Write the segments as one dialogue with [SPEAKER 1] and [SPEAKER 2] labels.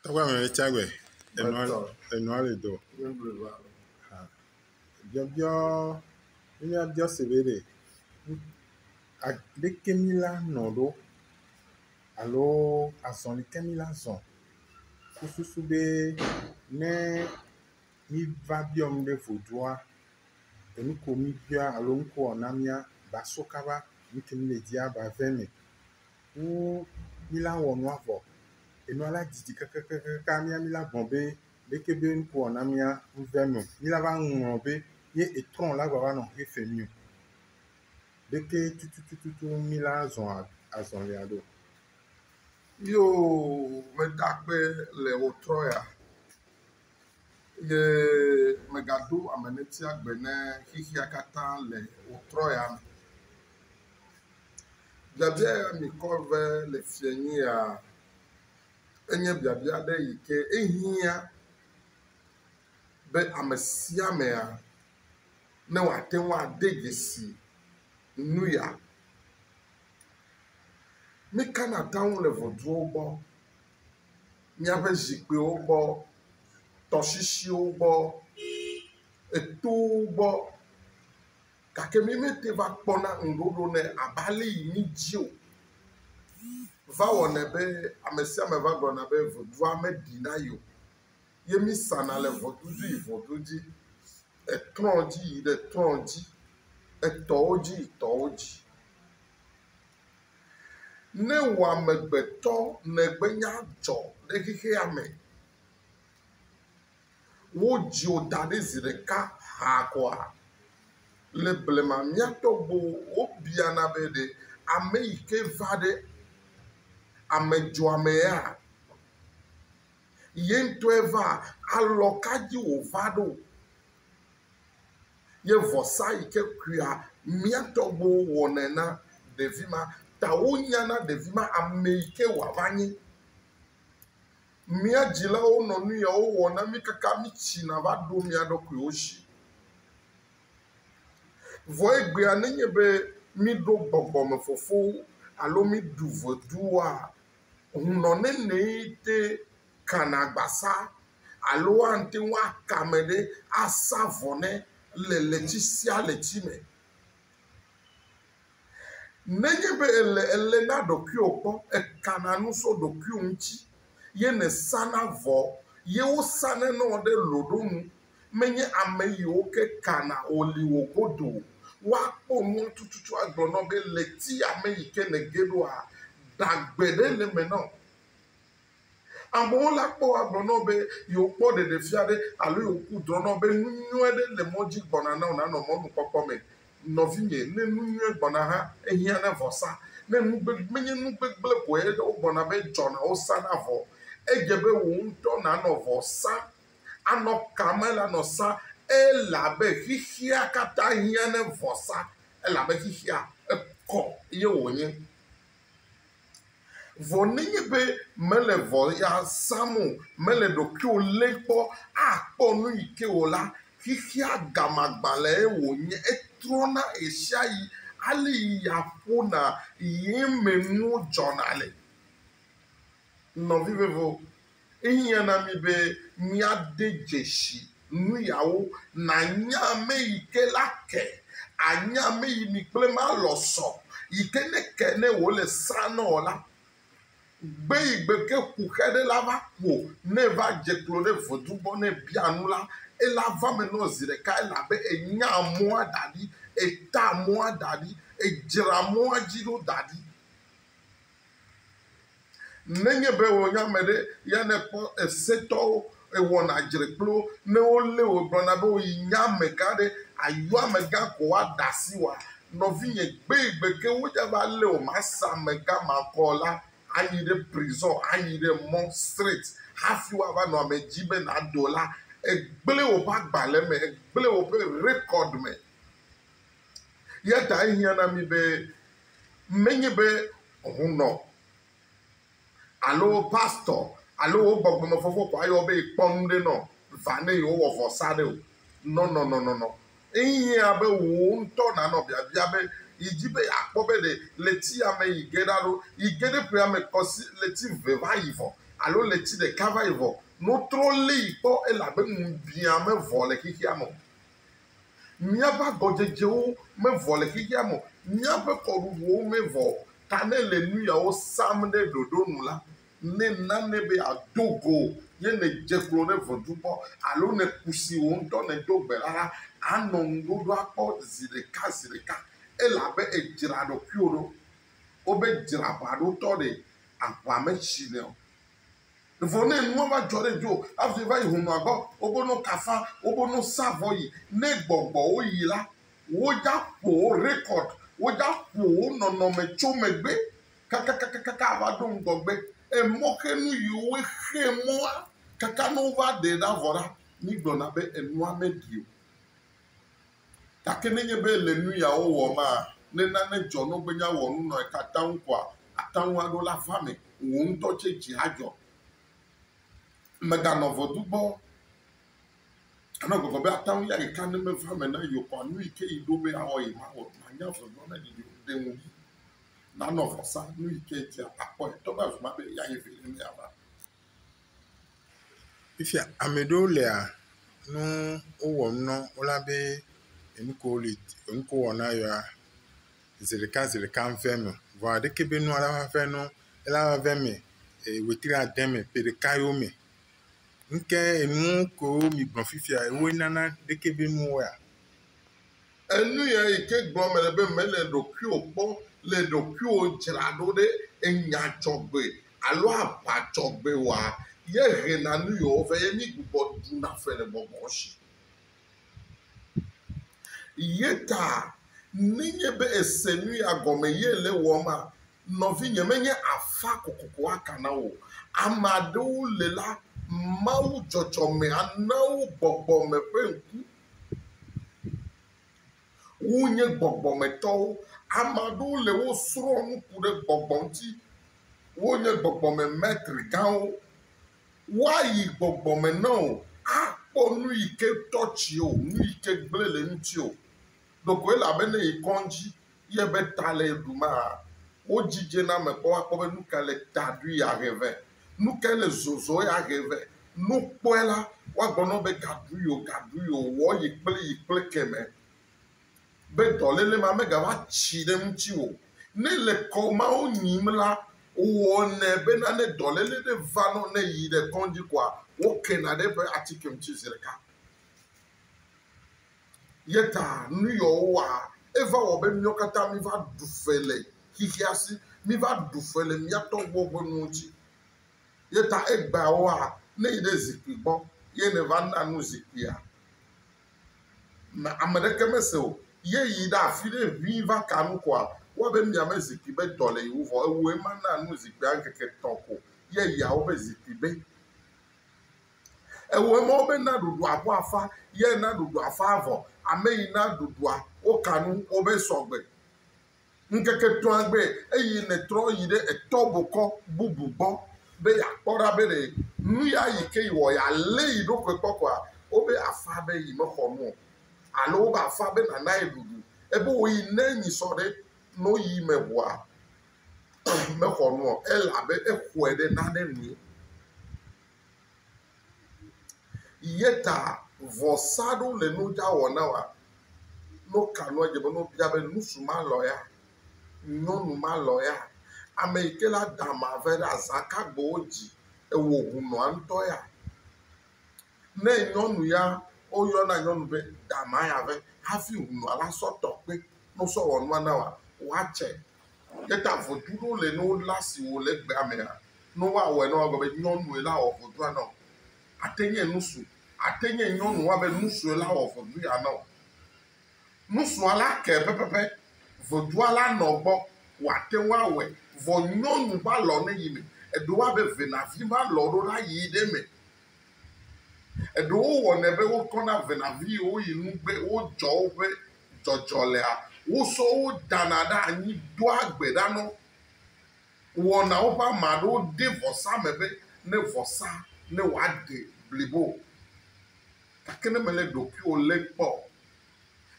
[SPEAKER 1] Tɔgbe ame le tsa gbe. Enua Gbetɔ. enua le do. Yebleba. Biɔbiɔ ne míabiɔ se be ɖe nu a ɖeke mí la nɔ ɖo alo azɔli ke mí la zɔ ku susu be ne míva biɔ nu ɖe vodua enu ko míbiɔa alo nu ko wòana mía ba so kaba nu ke mí le dia ba ve eme. wu mila wɔ nua vɔ. Enua la didi kakakaka mia mila gblɔ be leke be ŋku wɔna mia ŋve me. Mila va ŋlɔ be ye etrɔ la va va nɔ xexe mi o. Ɖeke tutututu mila zɔ azɔlia ɖo. Yoo
[SPEAKER 2] metakpe le wotrɔ ya. Eye mègaɖo ame netia gbe ne xexea katã le wò trɔ̃ya me. Biabia ya mìkɔ be le fiẽnyuia, enye biabia aɖe yi ke ehiã be ame sia amea ne wòate ŋu ade dzesi nuya. Nukana atam le ʋɔtruwo gbɔ? míaƒe zikpuiwo gbɔ, tɔsisiwo gbɔ, etowo gbɔ gake mí mete va kpɔna ŋuɖoɖo nɛ abe ale yi mídi o. Va wɔnɛ be ame sia ame va gblɔna be vodua meɖi na ye o ye mísana le ŋɔdu dzi yi ŋɔdu dzi, etrɔ̃ dzi yi ɖe etrɔ̃ dzi, etɔwo dzi yi tɔwo dzi. Ne wò amegbetɔ nègbenya dzɔ ɖe xexea me, wodzi wò da ɖi zi ɖeka haa koa? Le blema mía tɔgbuiwo wobiana be, Ɖe ame yi ke va ɖe ame dzɔa mea? Ye ŋutɔe vaa? Alɔ ka dzi wòva ɖo? ye vɔsa yi ke koea mía tɔgbuiwo wɔnɛ na ɖevi ma ta wonya na ɖevi ma ame yi ke wòava nye. Mía dzilawo nɔ nu yawo wɔm na mí kaka mítsina va ɖo mía ɖokuiwo dzi. Vɔ egbea nenye be míɖo gbɔgbɔmefofo alo míɖu vodua, hunɔnenee te kana gbasa alo ate ŋu aka ame ɖe asa vɔ nɛ le ɣleti sia ɣleti me. Nenye be èle eme na ɖokuiwò kpɔ, èkana nu tso ɖokuiwò ŋuti ye nèsana vɔ ye wosanɛ na wò ɖe loɖonu. Menye ame yiwo ke kana wò li wò godoo o. Woakpɔ nua tututu agblɔ na wò be ɣleti ya me yi ke nège ɖoa, ɖagbe ɖe le eme na wò. Amewo la kpɔ agblɔ na wò be yewokpɔ ɖeɖefia aɖe alo yewoku drɔ̃ na wò be nu nyui aɖe le mɔ dzi gbɔna na wò nànɔ mɔnukpɔkpɔ me. Nɔvinye, ne nu nyui gbɔna hã, ehiã na vɔsa. Ne nu gbegblẽ, menye nu gbegblẽ koe wogbɔna be edzɔna wosa na vɔ o. Edze be wò ŋutɔ nànɔ vɔ sam. Anɔ ka me la nɔ sa elabe xexea katã hiã na vɔsa elabe xexea ekɔ ye wònye. Vɔ nenye be mèle vɔ ya zãm o, mèle ɖokuiwò lém kpɔ akpɔ nu yi ke o la, xexea gamagbalẽe wònye, etrɔna ɣesiaɣi, alé ya ƒona, ɣie me nuwo dzɔna le. Nɔvi vevo, ehiã na mí be míade dzesi nuyawo, Nànya ame yi ke la ke, ànya ame yi mi kple ma lɔ sɔ, yi ke ne ke ne wòle srã na wò la, gbe yi gbe ke ku xe ɖe la va kuo, ne va dze klo ɖe vodun gbɔ ne bia nu la, ela va me nɔ zi ɖeka, elabe enya mɔa da ɖi, eta mɔa da ɖi, edzra mɔa dzi ɖo da ɖi. Nenye be wò nye ame ɖe ya nèkpɔ esetɔwo, èwɔna dzre kple wo, ne wolé wò gblɔna be wò yi nye amegã ɖe, àyɔ amegã ko woaɖe asi wòa? Nɔvinye, gbegbe ke wodze abe ale wòme ase amegã ma kɔ o la, ayi ɖe prison, ayi ɖe mɔ, street, hafi woava nɔ ame dzi be nàdo la, ègblẽ woƒe agbalẽ me, ègblẽ woƒe record me. Eya ta ehiã na mí be menye be hũnɔ alo pastor alo wo gbɔgbɔmefɔfɔ ko ayɔ be kpɔ nu ɖe nɔ va ne yewowɔ vɔsa ɖe o. Nɔnɔnɔnɔnɔ. Ehiã be wò ŋutɔ nànɔ biabia be yi dzi be yeakpɔ be ɖe ɣleti ya me yi ge ɖa ɖo. Yi ge ɖe ƒea me kpɔ si ɣleti eve va yi vɔ alo ɣleti ɖeka va yi vɔ, no trɔ lé yi kpɔ elabe ŋubiã mevɔ le xexea me o. Míaƒe agɔdzedzewo mevɔ le xexea me o, míaƒe kɔɖuŋuwo mevɔ o. Ta ne èle nu yawo sam ɖe ɖoɖo nu la, ne nane be àdo go ye nèdze klo ɖe vodzu gbɔ alo nèku si wò ŋutɔ nèdo gbe la la, ànɔ ŋuɖoɖoa kpɔ zi ɖeka zi ɖeka, elabe èdzra ɖokuiwò ɖo. Wobedzra aʋaɖotɔ ɖe aʋa me tsinɛ o. Vɔ ne nua va dzɔ ɖe dzoɔ, hafi va yi hunɔa gbɔ, wobo no kafa, wobo no sa vɔ yi. Ne gbɔgbɔwo yi la, wodza ƒo wo rekɔd, wodza ƒo wo nɔnɔme tso megbe kakakakaka ava ɖo ŋgɔgbe. Emɔxenu yi wo xe mɔa kaka ne wova ɖe ɖa vɔ la, mi gblɔna be enua meɖi o. Gake nenye be le nu yawo wɔmaa, ne nane dzɔ nɔgbenya wɔ nu nɔe tatam koa, ate ŋu aɖo la va me, wò ŋutɔ tsɛ dzi adzɔ. Mèganɔ vɔdu gbɔ o. Anɔ gbɔgbɔ be ate ŋu ya ɖeka ne meva me na yewo koa, nu yi ke yi ɖo be yeawɔ yi ma wɔ. Manya vɔdua ne ɖiɖi o. Ɖe ŋugbi nanɔ vɔsa, nu yi ke edzia, akpɔe, togbɔ avi ma be yeayi viɖe ne yeava.
[SPEAKER 1] Fifia ame ɖewo lea nu wowɔm na wo la be enu ko wole enu ko wowɔ na yewoa zi ɖeka zi ɖeka ŋeve me. Vɔ aleke be nua la va eme ela va va eme wetri ade me ƒe ɖeka yewo me. Ŋke enu ko migblɔ fifia woe nana aleke be nuwoea.
[SPEAKER 2] Enuya yi ke gblɔm mele be mele ɖokuiwò kpɔ le ɖokuiwò dzra ɖo ɖe enya dzɔgbe alo aʋa dzɔgbe wɔa, ye hena nu yewo vɛ, ye mígbugbɔ ɖuna fe le gbɔgbɔ si. Ye ta nenye be èse nuya gɔme ye èle wɔma, nɔvinye, menye afã kokoko aka na wò o. Ame aɖewo li la, Mawu dzɔdzɔme ana wo gbɔgbɔ me ƒe ŋku. Wonye gbɔgbɔmetɔwo. Ame aɖewo le wo srɔ̃m nu ku ɖe gbɔgbɔ ŋuti. Wonye gbɔgbɔme mɛtri gãwo. Woayi gbɔgbɔme ne wò akpɔ nu yi ke tɔtsi wò, nu yi ke gblẽ le eŋuti wò. Ɖekoe le abe ne yi kɔŋdzi ye ebe ta le ye ɖum aa. Wodzi dze na ame kpɔ woakpɔ be nuka le ta ɖui ya he vɛ. Nukae le zɔzɔ ya he vɛ. Ne wokpɔe la, woagblɔ na wo be ga ɖui o, ga ɖui o, wɔ yi kple yi kple kemɛ be dɔléle ma megava tsi ɖe ŋutiwò o. Ne le kɔ mawo nyim la, wɔnɛ bena ne dɔléle ɖe va nɔ ne yi ɖe kɔŋdzi koa, wokena ɖe eƒe atike ŋuti zi ɖeka. Yeta nu Yehowa, eva wɔ be míawo katã míva ɖu fe le xexea si, míva ɖu fe le mía tɔgbuiwo ƒe nuwo ŋuti. Yeta egbeawoa, ne èyi ɖe zikpui gbɔ ye nèva na nu zikpuia, ame aɖeke mese o. Ye yi ɖe afi ɖe ʋĩi va ka nu koa, ewɔ abe mia me zikpui be dɔ le yeŋu vɔ ewòe ma na nu zikpuia ŋkeke etɔ̃ ko ye yia woƒe zikpui be. Ewɔe mɔ be na ɖuɖua ƒe afã ye na ɖuɖua afã vɔ ame yi na ɖuɖua woka nu wo be sɔgbe. Ŋkeke etɔ̃a gbe eye netrɔ yi ɖe etɔ bokɔ bubu gbɔ be yeakpɔ ɖa be ɖe nuya yi ke yi wɔ yealé yi ɖokui kpɔ koa, wobe afã be yi mexɔ nu o alo wobe afã be nana ye ɖuɖu. Ebe wo yi ne nyi sɔ ɖe no yi me ŋua mexɔ nu o elabe exɔe ɖe nane nui. Yeta vɔsa ɖo le nu dza wɔ na wa. No ka nua dze be no bia be nusu ma lɔ ya, nyɔnu ma lɔ ya, ame yi ke la da ama ve ɖe aza ka gbe wo dzi ewɔ ŋu nɔa ŋtɔ ya. Ne nyɔnu ya wo yɔna nyɔnu be da ama ya ve hafi ŋu nɔa la sɔ tɔ kpe no sɔ wɔ nua na wa, wa tse Ne ta vodui ɖo le no la si wò le gbea mea, no wa wɔ ena wa gbe be nyɔnue la wɔ vodua nɔ. Ate nye nusu. Ate nye nyɔnu wa be nusue la wɔ vodui ya nɔ. Nusua la ke pɛpɛpɛ. Vodua la nɔ gbɔ. Wate ŋu awɔe. Vɔ nyɔnu ba lɔ ne yi me. Eɖo wa be venavi ba lɔ ɖo la yi ɖe me. Eɖewo wɔnɛ be wokɔna venavi wo yi nu be wodzɔ woƒe dzɔdzɔ lea, wosɔ wo dana ɖe anyi doa gbe ɖa na wo. Wɔna woƒe ame aɖewo ɖe vɔsa me be ne vɔsa ne wòaɖe blibo. Gake ne mèlé ɖokuiwò lém kpɔ o,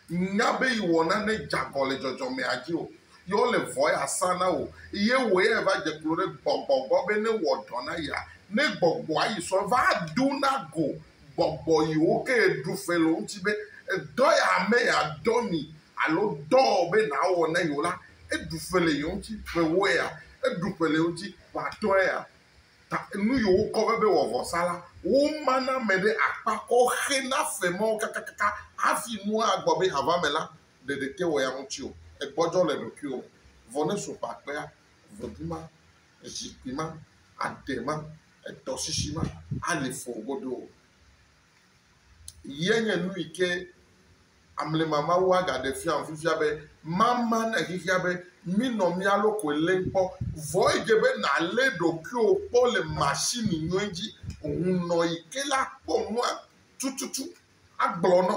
[SPEAKER 2] Nya be yewɔ nane dzeagɔ le dzɔdzɔmea dzi o, ye wole vɔ yeasa na wò, ye wòe eva dze klo ɖe gbɔgbɔ gbɔ be newɔ dɔ na yea, ne gbɔgbɔa yi sɔ va do na go gbɔgbɔ yiwo ke ɖu fe le wo ŋuti be, Dɔ ya ame ya dɔ mi alo dɔ be nawɔ na yewo la, eɖu fe le yewo ŋuti ƒe ewoea? Eɖu fe le yewo ŋuti ƒe atɔ̃ea? Ta nu yi wokɔ be be wɔ vɔsa la, woma na ame ɖe akpa kɔ xe na fe mawo kakakaka hafi nua agbɔ be hava me la, ɖeɖe te wɔ ya ŋuti o. Egbɔdzɔ le ɖokuiwò me. Vɔ ne so ƒe akpea, ʋedu ma, zikpui ma, aɖe ma, etɔsisi ma, ali fɔwo godoo. Ye nye nu yi ke amlima Mawu agaɖe fiam fifia be, mama na xexea be minɔ mia lokoe lém kpɔ. Vɔ edze be nàlé ɖokuiwò kpɔ le mashini nyui dzi. Hunnɔ yi ke la kpɔ nua tututu agblɔ nɔ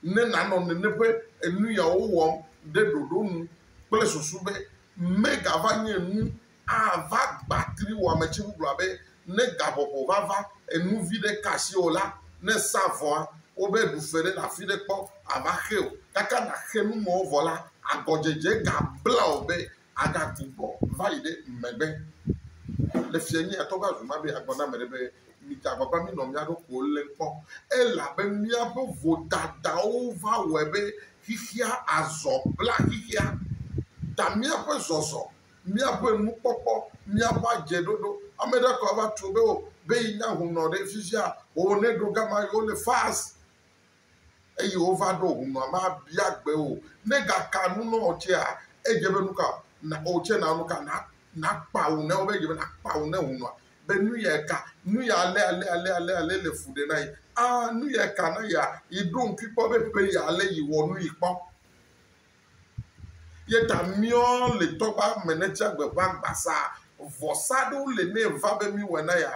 [SPEAKER 2] ne nànɔ nene ƒe enuyawo wɔm ɖe ɖoɖo nu kple susu be megava nye nu ava gba tri wò ame tsɛ bubua be ne gaƒoƒo va va enu vi ɖe ka asi wò la, ne èsa vɔa, wobe ɖu fe ɖe le afi ɖe kpɔ ava xe o. Kaka nàxe nu mawo vɔ la, agɔdzedze gabla wò be àgatu gbɔ va yi ɖe megbe. Le fiẽ nye ya tɔ va zu ma be agblɔ na ame ɖe be, Mita agbagba minɔ mía ɖokuiwo lém kpɔ, elabe míaƒe vodadawo va wɔe be xexea azɔ blaxexea ta míaƒe zɔzɔ Míaƒe nukpɔkpɔ, míaƒe adzeɖoɖo. Ame ɖe kɔ ava tso be o be yi nya hunɔ ɖe fifia oo ne ɖo gama yi wole fast eye wova ɖo hunɔ ma bia gbe o. Ne ga ka nu nɔ wo tsɛa edze be nuka na wo tsɛ na nuka na na kpa wu na wo be edze be na kpa wu na hunɔa be nu ya eka nu ya ale ale ale ale ale le fu ɖe na yi. Aa nu ya eka na yia yi ɖo ŋkui kpɔ be ƒe ya ale yi wɔ nu yi kpɔ. Ye ta míɔ le tɔgba me ne tsia gbe ʋã gbasa vɔsa ɖewo le ne va be mí wɛ na ya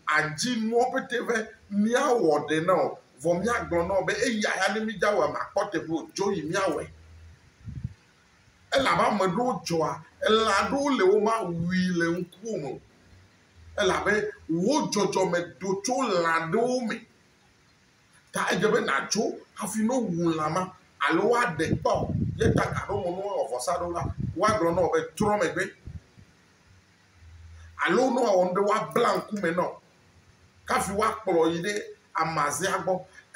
[SPEAKER 2] a dzi nuɔ pete be mía wɔ ɖe na o. Vɔ mía gblɔ na wo be eya ya ne mí dza wɛ ma kpɔ teƒe o dzo yi mía wɛ. Elabe ame ɖewo dzɔa elã ɖewo le wo ma wui le ŋkuwo me o. Elabe wo dzɔdzɔme do tso lã ɖewo me. Ta edze be nàtso hafi ne wowu lã ma alo woaɖee kpɔ o. Ye ta gaɖo eŋu ne woawɔ vɔsa ɖo la, woagblɔ na wò be, Trɔ megbe. Alo ne woawɔ nu ɖe woabla ŋkume na wò kafi woakplɔ wò yi ɖe amazea gbɔ.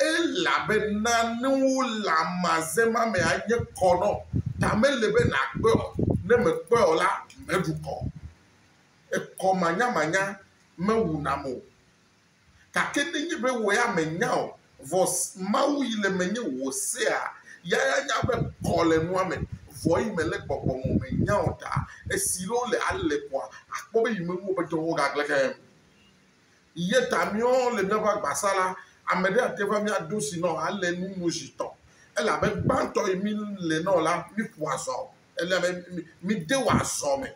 [SPEAKER 2] Elabena ne wole amaze ma me anye kɔ na wò. Ta mele be nàkpɔe o. Ne mèkpɔe o la, mèɖu kɔ o. Ekɔ manyamanya mewunam o. Gake nenye be wò ya mènya o, vɔ Mawu yi le menye wò sea, ya ya nya be kɔ le nua me, vɔ yi mele gbɔgbɔ me o, mènya o ta. Esi ɖewo le ale kɔa, àkpɔ be yi me nuwo ƒe dɔwo gagle keŋ. Ye ta míɔ le míaƒe agbasa la, ame ɖe ate va mía dosi nɔ ale nu nu zi tɔ, elabe gbãtɔ yi mí le nɔ la, mí ƒua zɔ. Ele be míde wò azɔ me.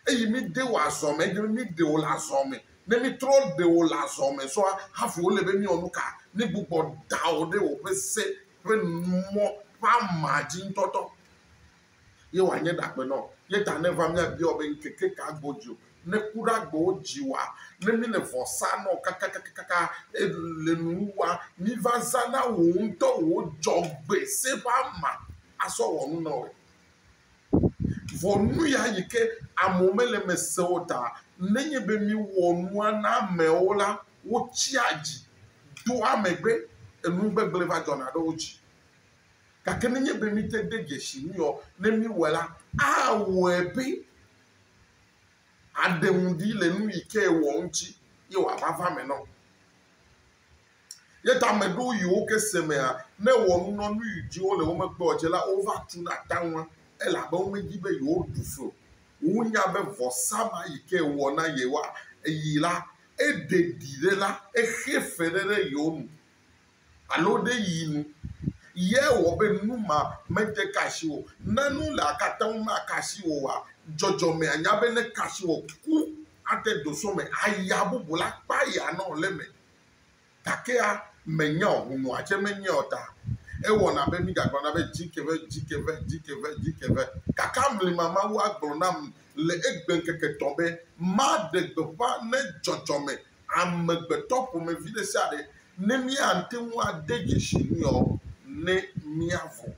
[SPEAKER 2] Eyi míde wò azɔ me, eye míde wò le azɔ me. Ne mítrɔ de wò le azɔ me sɔa, hafi wole be míawɔ nu ka? Mígbugbɔ da wò ɖe wòƒe se ƒe numɔ̃ ƒe ama dzi ŋutɔtɔ. Ye wòanye ɖagbe na wò. Ye ta ne eva míabia wò be, Ŋkeke ka godzi wò? ne ku ɖe agbewo dzi wa, ne mi le vɔ sa nɔ kakakakaka e le nuwo wa, mi va za na wò ŋutɔ wò dzɔgbe se ƒe ama asɔ wɔ nu nɔwɛ. Vɔ nu ya yi ke amewo me le me se o ta ne nye be mi wɔ nua na amewo la wo tsia dzi doa megbe enu gbegble va dzɔna ɖe wo dzi. Gake ne nye be mi te de dzesi nu yɔ ne mi wɔ la awɔe be Aɖe ŋu ɖi le nu yi ke ewɔ ŋuti ye wòava va eme nɔ. Ye ta ame ɖewo yi wo ke se mea, ne ewɔ nu nɔ nu yi dzi wole wo megbe o dze la, wova tuna ta ŋua elabe womedi be yewoɖu fli o. Wonya be vɔsa ma yi ke ewɔ na yewoa, eyi la, eɖe ɖi ɖe la, exe fe ɖe ɖe yewo nu. alo ɖe yi nu ye wɔ be nu ma mede ka asi wò. Ne nu le akata ŋu maka asi wò oa, dzɔdzɔme anya be neka asi wò ku ate do so me aya bubu la kpa ya nɔ le eme. Gakea menya o, hunua tse menyae o ta ewɔna be midzagblɔ na be dzi ke ve, dzi ke ve, dzi ke ve, dzi ke ve. Gake amlima Mawu agblɔ nam le egbe ŋkeke etɔ̃ be maɖe gbeƒã ne dzɔdzɔme amegbetɔ ƒomevi ɖe sia ɖe ne míate ŋu ade dzesi nuya o ne míavɔ̃.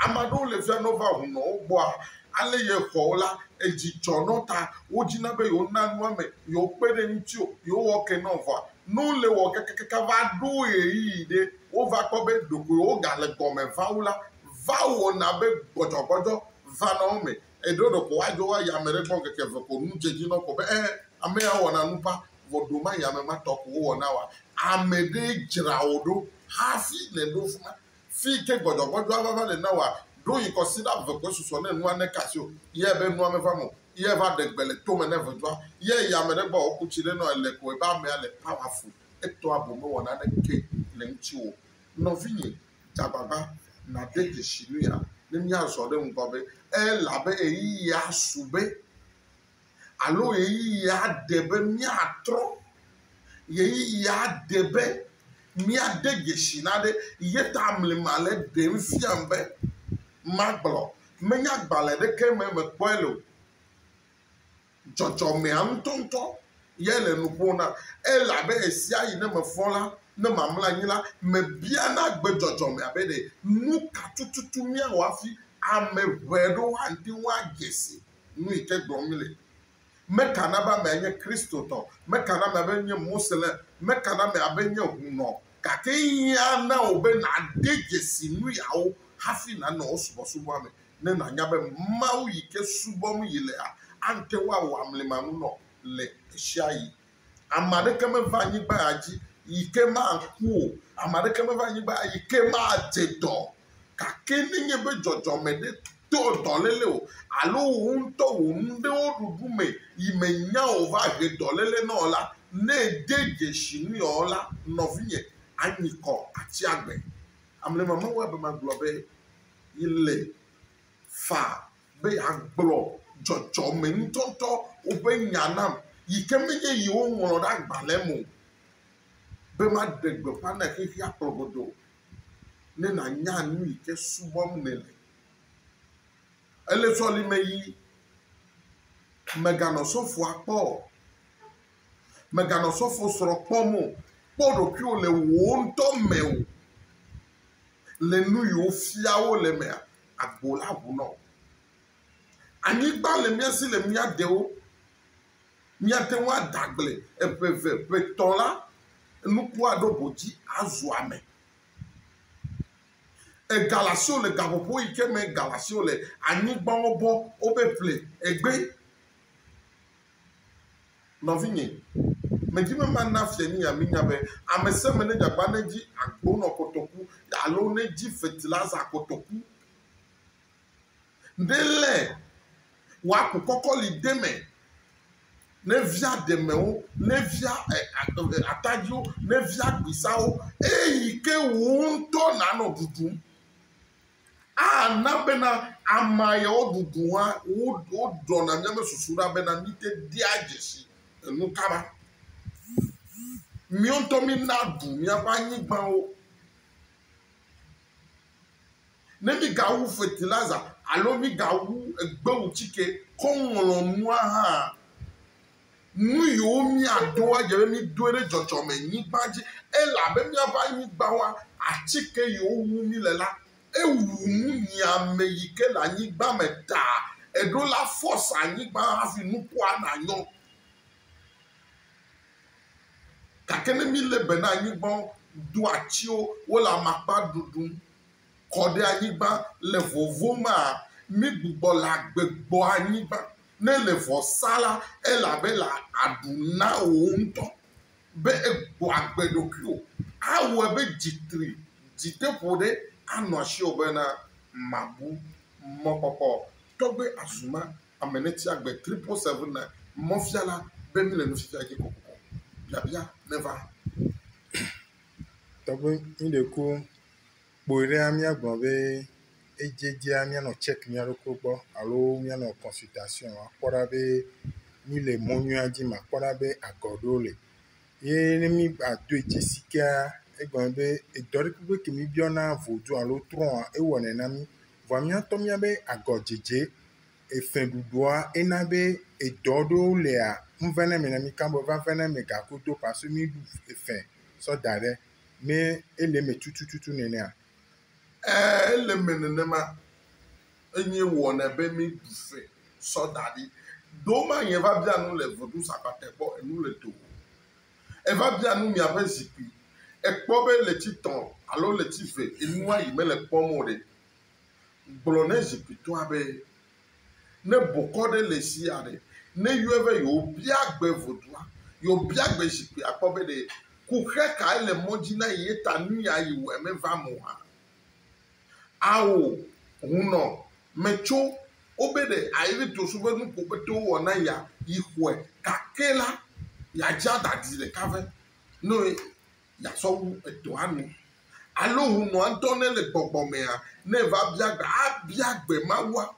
[SPEAKER 2] Ame aɖewo le fia ne wova ŋu nɔ wo gbɔa, ale yexɔ wo la, edzi dzɔ na wo ta wodina be yewona nua ame, yewokpe ɖe eŋuti o, yewowɔ ke na wo vɔa, ne wole wɔ kakakaka va ɖo ɣeyiɣi ɖe wova kpɔ be ɖeko yewogale gɔme va wu la, va wɔna be gbɔdzɔgbɔdzɔ vana wo me Eyi ɖewo ɖeko woadzo wo ayi ame ɖe gbɔ ŋkeke eve ko nu dze edzi na wo ko be ee ame ya wɔna nu ƒã vɔ ɖewo mayi ame ma tɔ ko wowɔna oa? Ame ɖee dzra wò ɖo hafi nèɖo fi ma. Fi yi ke gbɔdzɔgbɔdzɔa vava le na wòa, ɖo yi kɔsiɖa eve koe susɔ ne nua neke asiwò. Yea be nua meva eme o. Yea va ɖe gbe le tome ne ʋedzɔa. Yea yi ame ɖe gbɔ wòku tsi ɖe nɔ ele ko ebe amea le powerful. Etɔa gome wɔ naneke le ŋutiwò o. Nɔvinye. Tsa agbagba nàde dzesi nuya ne míazɔ ɖe ŋgɔ be, elabe ɣeyiɣia su be alo ɣeyiɣia de be míatrɔ, ɣeyiɣia de be míade dzesi na ɖe. Ye ta mli ma le ɖem fiam be magblɔ. Menye agbalẽ ɖeke me mekpɔe le o. Dzɔdzɔmea ŋutɔŋutɔ yae le nu ƒom nam elabe ɣesiaɣi ne mefɔ la, ne mamlɔ anyi la, mebiana gbe dzɔdzɔmea be ɖe nuka tututu míawɔ hafi ame ʋɛ ɖo woate ŋu adze si nu yi ke gblɔm míele. Meka na be amea nye Kristotɔ, meka na amea be nye Moslem, meka na amea be nye hunɔ, gake ehiã na wò be nàde dzesi nuyawo hafi nànɔ wo subɔsubɔa me. ne nànya be Mawu yi ke subɔm yelea ate ŋu awɔ amlimanunɔ le ɣesiaɣi. Ame aɖeke meva anyigba dzi yi ke maku o. Ame aɖeke meva anyigba yi ke madze dɔ o. Gake nenye be dzɔdzɔme ɖe to dɔléle o alo wò ŋutɔ wò nu ɖe wo ɖuɖu me yi mènya o va he dɔléle na wò la, ne ède dzesi nui ɔ la, nɔvinye, anyi kɔ, atsi agbe. Amlimamawuabe magblɔ be. yi le fa be yeagblɔ dzɔdzɔmeŋutɔtɔ woƒe nya nam yi ke menye yewo ŋlɔ ɖe agbalẽ me o be maɖe gbeƒã na xexea kplɔ godoo o ne nànya nu yi ke subɔm nèle. Ele sɔlime yi mèganɔ sɔfoa kpɔ o. Mèganɔ sɔfosrɔ̃ kpɔm o. Kpɔ ɖokuiwò le wò ŋutɔ me o. Le nu yi wofia wo le mea, agbo la ʋu nɔ wò. Anyigba le mía si le mía ɖewo. Míate ŋu ada agble eƒe eve, ƒe etɔ̃ la, nukua ɖo ʋu dzi azu ame. Ega le asiwò le gaƒoƒo yi ke me ga le asiwò le, anyigba wobɔ wobe ƒle egbee. Nɔvinye, medi be mana Fianyia minya be ame sia ame nedze agbagba nedzi agbonɔ kotoku alo nedzi fetiliza kotoku ɖe lé wòaku kɔkɔli ɖe me, nevia ɖemewo, nevia atadziwo, nevia gbisawo, eyi ke wò ŋutɔ nànɔ ɖuɖum. Ana bena amea ya woɖuɖu hã woɖɔna míaƒe susu ɖa bena míete dea dzesi enu ka ɖa. Míawo ŋutɔ mína ɖu míaƒe anyigbawo. Ne mígawu fetiliza alo mígawu egbewutsike kɔ ŋlɔ nua hã, Nu yiwo míadoa, edze be mídoe ɖe dzɔdzɔmenyigba dzi elabe míaƒe anyigba wa atike yiwo wu míle la. Ewu nu nyiame yi ke le anyigba me ta. Eɖo la force anyigba hafi nukua nanyɔ. Gake ne mílé be na anyigba, do atiwo, wole amakpa ɖuɖum. kɔ ɖe anyigba le vovo mea, mi gbugbɔ le agbe gbɔ anyigba ne le vɔ sa la, elabe la aɖu na wò ŋutɔ be egbɔ agbe ɖokuiwò. Awɔe be dzi tri, dzi te ƒo ɖe anɔ asiwò bena màbu mɔkpɔkpɔ o. Tɔgbe Azumah, ame ne tsi agbe triple seven na mɔfiala be mi le nufiafia dzi kokoko. Biabia neva.
[SPEAKER 1] Tɔgbe, mi ɖeko Kpɔe ɖea, míagblɔ be edzedzea míanɔ tsɛk mía ɖokui gbɔ alo míanɔ kɔnsitasiɔn wɔm akpɔ ɖa be míle mɔ nyuia dzi me akpɔ ɖa be agɔ ɖewo li. Ye ne mígbadoe dzi si kea, egɔme be edɔ ɖe kpekpe ke míbiɔna vodu alo trɔ̃a, ewɔnɛ na mí. Vɔa mía ŋutɔ míawo be agɔdzedze, efɛɖuɖua ena be edɔ ɖewo lia, ŋuve na eme na mí. Ke be va ve na eme gagodo pasu míɖu efɛ sɔ da ɖe ne ele eme tututu
[SPEAKER 2] nenea? Ɛɛ, ele
[SPEAKER 1] eme nenema.
[SPEAKER 2] Enyie wɔnɛ be míeɖu fɛ sɔ da ɖi. Ɖewo ma nye va bia nu le Vodunsabatɛ gbɔ enu le do o. Eva bia nu miaƒe zikpui. Èkpɔ be ɣleti tɔ̃ alo ɣleti ve enua yi mele kpɔm o ɖe? Gblɔ ne zikpuitɔa be Ne bokɔ ɖe le sia ɖe ne yɔe be yeobia gbe vodua, yeobia gbe zikpui akpɔ be ɖe kuxɛ kae le mɔ dzi na ye ta nuya yewɔe meva eme o hã. Ao, hunnɔ, metso wo be ɖe aevi tosu be nu ko kpete wowɔ na yea yi xɔe gake la, yeadzi adadi ɖeka ve. Noe yeasɔ wu edɔa nu. Alo hũnɔa ŋutɔ ne le gbɔgbɔ mea, ne eva bia gbe, abia gbe Mawua.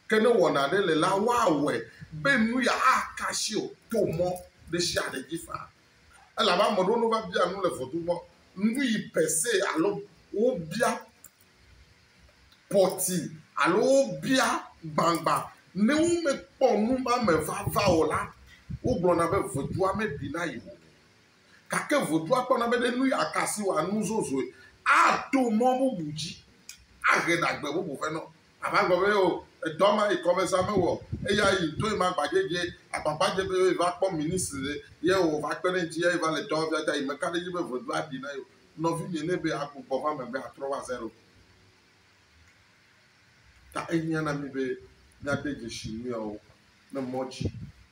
[SPEAKER 2] Ke ne wɔna aɖe le la, woawɔe be nu ya aka asi o to mɔ ɖe sia ɖe dzi faa. Elabe ame ɖewo ne wova bia nu le vodun mɔ, nuyi per se alo wobia pɔti alo wobia gbagba, ne womekpɔ nu ma me vava o la, wogblɔna be vodua meɖi na yewo o. Gake vodua kpɔna be ɖe nu ya ka si wòa nu zozoe ato mɔ bubu dzi ahe ɖagbe bubu vɛ na wo. Ava gblɔ be, Oo, edɔ ma yi kɔmeza mewɔ o, eya yi ŋutɔe ma gbagbadzɛ agbagbadzɛ be yi va kpɔ ministre ɖe, ye wòva kpe ɖe ŋuti ya yi va le dɔwɔm fia ta yi meka ɖe edzi be vodua aɖi na ye o. Nɔvinye, ne be agbugbɔ va megbe atrɔ va zero. Ta ehiã na mí be míade dzesi nu yawo ɖe mɔ dzi